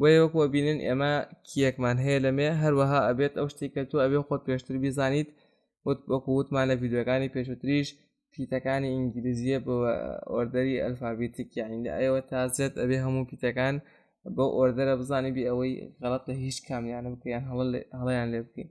بۆیە وەکو ئەبینن ئێمە کیەکمان هەیە لەمێ هەروەها ئەبێت ئەو شتێک کە تۆ ئەبێ خۆت پێشتر بیزانیت وت وەکو وتمان لە ڤیددیوەکانی پێشوتریش پیتەکانی ئینگلیزیە بۆ ئۆردەری ئەلفابیتیک یاین لە ئەوە تا زێت ئەبێ هەموو پیتەکان بۆ ئۆردەرە بزانانی بێ ئەوەی غەڵت لە هیچ کامیانە بکەیان هەڵیان لێ بکەین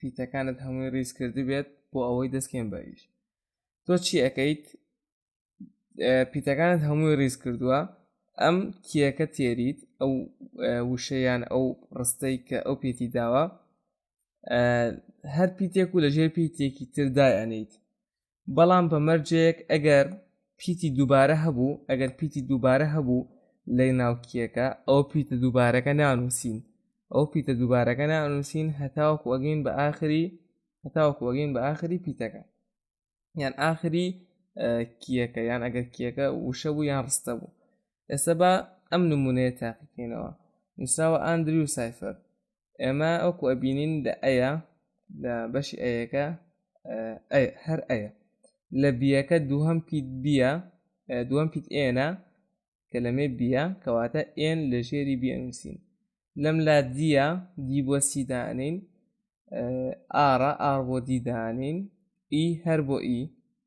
پیتەکانت هەمووی ڕیز کردبێت بۆ ئەوەی دەستکێن بەریش تۆ چی ئەەکەیت پیتەکانت هەمووی ڕیز کردووە ئەم کیەکە تێریت ئەو وشەیان ئەو ڕستەی کە ئەو پێتی داوە هەر پیتێک و لەژێر پیتێکی تردایانیت بەڵام بە مەرجێک ئەگەر پیتی دووبارە هەبوو ئەگەر پیتی دووبارە هەبوو لە ناوکیەکە ئەو پیتە دووبارەکە نانووسین ئەو پیتە دووبارەکە نانووسین هەتاوەکو ئەگەین بە ئاخری هەتاوەکو ئەگەین بە ئاخری پیتەکە یان ئاخری کیەکە یان ئەگەر کیەکە وشە بوو یان ڕستە بوو ئێستا بە ئەم نمونەیە تاقیکەینەوە نووسراوە ئاندریو سایفەر ئێمە ئەوکو ئەبینین لە ئەیە لە بەشی ئەیەکە هەر ئەیە لە بیەکە دووهم پیت بیە دووەم پیت ئێنە کە لەمێ بیە کەواتە ئێن لە ژێری بیەنووسین لەم لا دیە دی بۆ سیدانین ئارا ئار بۆ دیدانین ئی هەر بۆ ئی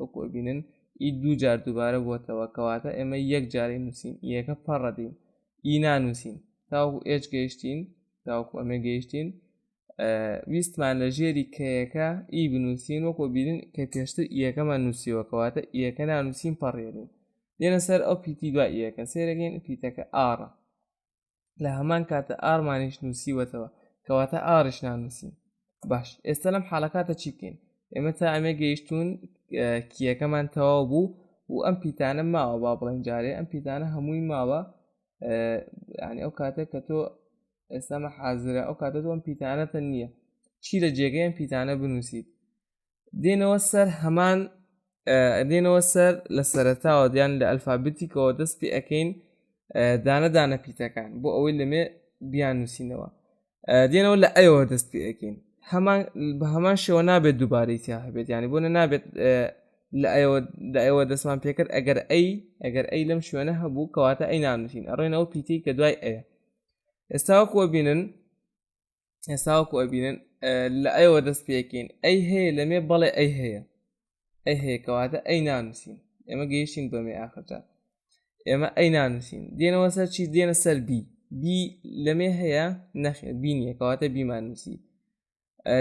وەکو ئەبینن ئی دوو جار دووبارە بووەتەوە کەواتە ئێمە یەک جارەی نووسین یەکە پەڕەدەین ئی نانووسین تاوەکو ئێج گەیشتین تاوەکو ئەمێ گەیشتین ویستمان لە ژێری کەیەکە ئی بنووسین وەکو بینن کە پێشتر یەکەمان نووسیوە کەواتە یەکە نانووسین پەڕێنین دێنە سەر ئەو پیتی دوای یەکە سێرەگەین پیتەکە ئاڕە لە هەمان کاتە ئارمانیش نووسیوەتەوە کەواتە ئاڕش نانووسین باش ئێستا لەم حاڵەکاتە چی بکەین ئێمە تا ئەمێ گەیشتون کیەکەمان تەواو بوو و ئەم پیتانە ماوە با بڵین جارێ ئەم پیتانە هەمووی ماوە ینی ئەو کاتێک کە تۆ ئێستامە حازرە ئەو کاتە تۆم پیتانەتە نییە چی لە جێگەیان پیتانە بنووسیت دێنەوە سەر هەمان دێنەوە سەر لە سەرتاوە دیان لە ئەلفابتیکەوە دەست پێ ئەەکەین دانە دانە پیتەکان بۆ ئەوەی لەمێ بیان نووسینەوە دێنەوە لە ئەوە دەست پێ ئەەکەین هەمان بە هەمان شێوە نابێت دووبارەی تیا هەبێت ینی بۆ نە نابێت لە ئەوە لە ئەوە دەستمان پێکرد ئەگەر ئەی ئەگەر ئەی لەم شوێنە هەبوو کەواتە ئەی نانووسین ئەڕێنەوە پیتی کە دوای ئەیە ئێستاوەکوە بینن ئێستاوەکو ئەبینن لە ئەوە دەست پێکەین ئەی هەیە لەمێ بەڵێ ئەی هەیە ئەی هەیە کەواتە ئەی نانووسین ئێمە گەیشتین بەمێ ئاخرجا ئێمە ئەی نانووسین دێنەوە سەر چی دێنە سەر بی بی لەمێ هەیە نەخێ بینیە کەواتە بیمان نووسی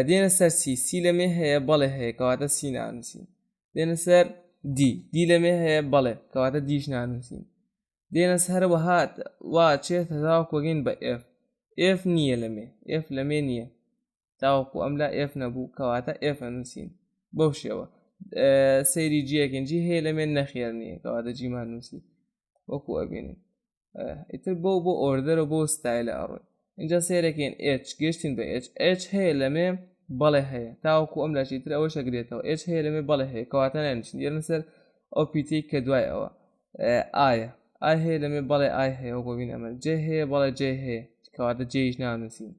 دێنە سەر سی سی لەمێ هەیە بەڵێ هەیە کەواتە سی نانووسین دێنە سەر دی دی لەمێ هەیە بەڵێ کەواتە دیش نانووسین دێنەس هەر وەها وا چێت تاوەکو گەین بە ئێف ئێف نییە لەمێ ئێف لەمێ نییە تاوەکو ئەم لا ئێف نەبوو کەواتە ئێف ئەنووسین بەو شێوە سەیری جیەکن جی هەیە لەمێ نەخێر نییە کەواتە جیمان نووسی وەکو ئەبینین ئیتر بۆ بۆ ئۆردەرە بۆ ستایلە ئەڕۆی اینجا سەیرەکەین ئێچ گەشتین بە ئێچ ئێچ هەیە لەمێ بەڵێ هەیە تاوەکو ئەم لاشی تر ئەوە شەگرێتەوە ئێچ هەیە لەمێ بەڵێ هەیە کەواتە نانیشین یەرن سەر ئەو پیتەی کە دوای ئەوە ئایا ئای هەیە لەمێ بەڵێ ئای هەیە و بۆبین ئەمە جێ هەیە بەڵێ جێ هەیە کەواتە جێیش نانووسین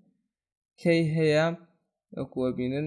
کەی هەیە وەکووە بینن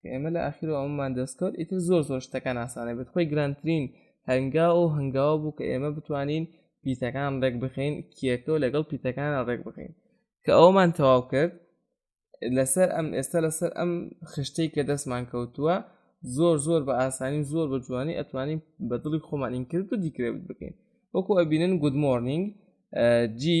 کە ئێمە لە ئاخیر و ئەمەمان دەستکەوت ئیتر زۆر زۆر شتەکان ئاسانە بێت خۆی گرانترین هەنگا و هەنگاوە بوو کە ئێمە بتوانین پیتەکان ڕێک بخەین کیەکە و لەگەڵ پیتەکان ڕێک بخەین کە ئەومان تەواو کرد لەسەر ئەم ئێستا لەسەر ئەم خشتەی کە دەستمان کەوتووە زۆر زۆر بە ئاسانی زۆر بە جوانی ئەتوانین بە دڵی خۆمانین کرد و دیکرێت بکەین وەکو ئەبینن گود مۆرنینگ جی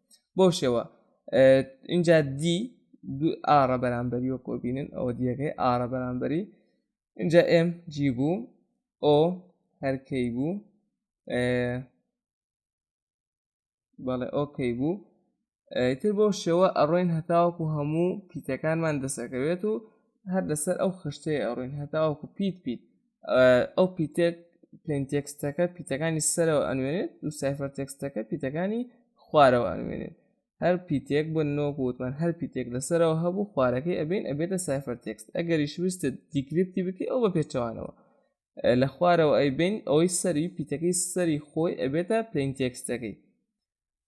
بۆ شێوە اینجا دی دوو ئاڕە بەرامبەری و کۆبینن ئەوە دیەکەی ئاڕە بەرامبەری اینجا ئێم جی بوو ئۆ هەرکەی بوو بەڵێ ئۆکەی بوو تر بۆ شێوە ئەڕۆین هەتاوەکو هەموو پیتەکانمان دەسەکەوێت و هەر لەسەر ئەو خشتەیە ئەڕۆین هەتاوەکو پیت پیت ئەو پیتێک پلین تێکستەکە پیتەکانی سەرەوە ئەنوێنێت و سایفەر تێکستەکە پیتەکانی خوارەوە ئەنوێنێت هەر پیتێک بۆ نۆگوتمان هەر پیتێک لەسەرەوە هەبوو خوارەکەی ئەبین ئەبێتە سایفەر تێکست ئەگەریش ویستە دیکریپتی بکەی ئەو بە پێچەوانەوە لە خوارەوە ئەی بین ئەوەی سەری پیتەکەی سەری خۆی ئەبێتە پلین تێکستەکەی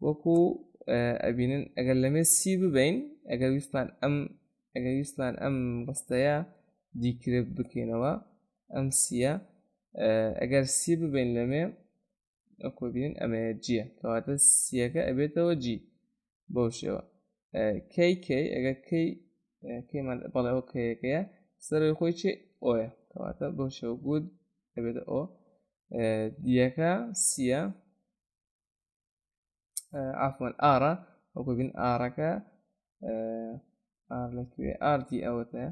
وەکو ئەبینن ئەگەر لەمێ سی ببین ئەگەر ویستمان ئەم ئەگەر ویستمان ئەم ڕستەیە دیکرێت بکەینەوە ئەم سیە ئەگەر سی ببین لەمێ ئەکۆبین ئەمەیە جیە کەواتە سیەکە ئەبێتەوە جی بەو شێوە کەی کەی ئەگەر کەی کەیمان بەڵێەوە کەیەکەیە سەرەوەی خۆی چێ ئۆە کەواتە بەو شێوە گوت ئەبێتە ئۆ دیەکە سیە ئافۆن ئارا وەکو بین ئارەکە ئار لەکوێ ئاردی ئەوەتە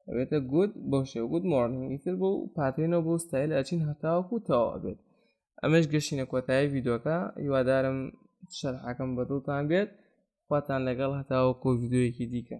ئەوێتە گوت بۆ شێ گوت مۆرننگی تر بۆ و پاتێنەوە بۆ ستایل ئەچین هەتاوەکو تەوا بێت ئەمەش گەشتینە کۆتایی یددیوەکە هیوادارم شەرحەکەم بەدڵتان بێت خواتان لەگەڵ هەتاوەکو یددیوەکی دیکە